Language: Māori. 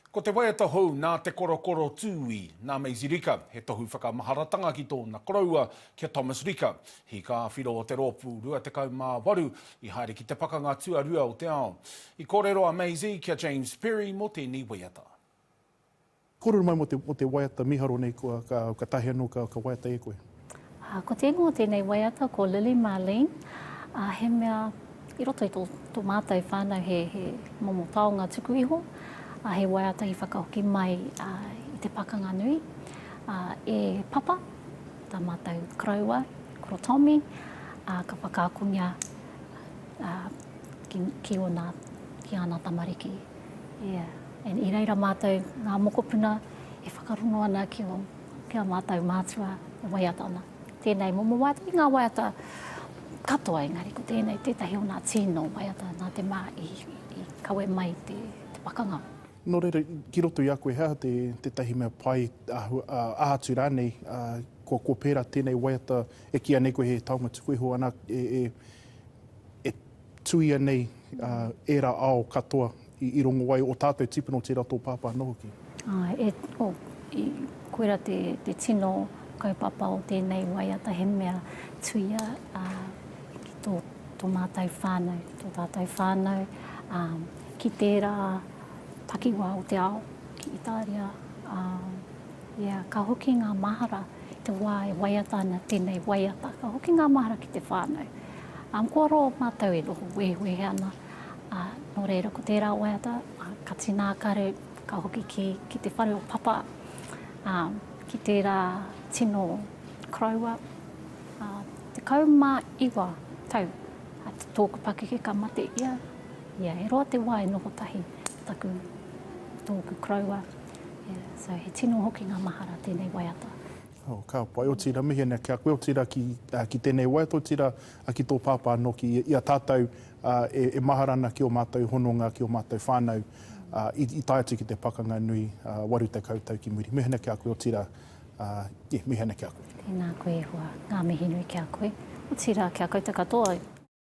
Ko te waiata hou nā Te Korokoro Tūī, nā Maisie Rika, he tohu whakamaharatanga ki tōna koroua, ki a Thomas Rika, hīkāwhiro o te Rōpū Rua Tekau mā Waru i haere ki te Pakanga Tuarua o te Ao. I kōrero a Maisie ki a James Perry mō tēnei waiata. Kōrero mai mō te waiata mīharo nei, ka taea anō ka waiata e koe. Ko te ingoa o tēnei waiata ko Lily Marlene, ā, he mea i roto i tō, tō mātou whānau he, he momo taonga tuku iho, ā, he waiata i whakahoki mai ā, i te pakanga nui, ā, e Papa, tā mātou koroua, Koro Tommy, ā, ka whakaakongia ā, ki, ki ōna, ki āna tamariki. Yeah. And i reira mātou, ngā mokopuna, e whakarongo ana ki ō Ki a mātou mātua e waiata ana tēnei momo waiata, i ngā waiata katoa engari ko tēnei tētahi o nā tīno waiata nā te mā i kawe mai te pakanga. Nō reira, ki roto i a koe he aha tētahi mea pai aha atu rānei kua pērā tēnei waiata e kīia nei koe he taonga tuku iho ana e Tuia nei ērā ao katoa i rongo ai, o tātou tipuna o tērā tō pāpā anō hoki. Āe, koira te tino kaupapa o tēnei waiata, he mea tuia ki tō mātou whānau, ki tō tātou whānau, ki tērā takiwā o te ao, ki Itāria. Ia, ka hoki ngā mahara i te wā e waiata ana tēnei waiata. Ka hoki ngā mahara ki te whānau. Ā, kua roa mātou e noho wehewehe ana. Ā, nō reira, ko tērā waiata, ka tīna akaru, ka hoki ki, ki te whare o Papa, ā, ki tērā tino koroua, ā, tekau mā iwa tau a tōku pakeke ka mate ia. Ia, e roa te wā e noho tahi taku, tōku koroua. So he tino hoki ngā mahara tēnei waiata. Oh, ka pai, otira mihi nei ki a koe, otira ki, uh, ki tēnei wai, otira uh, ki tō pāpā anō ki i a tātou uh, e, e mahara ana ki o mātou hononga, ki o mātou whānau, uh, i, i tae atu ki te pakanga nui uh, waru tekau tau ki muri. Mihi nei ki a koe, otira, uh, yeah, mihi nei ki a koe. Tēnā koe e hoa, ngā mihi nui ki a koe, otira ki a koutou katoa.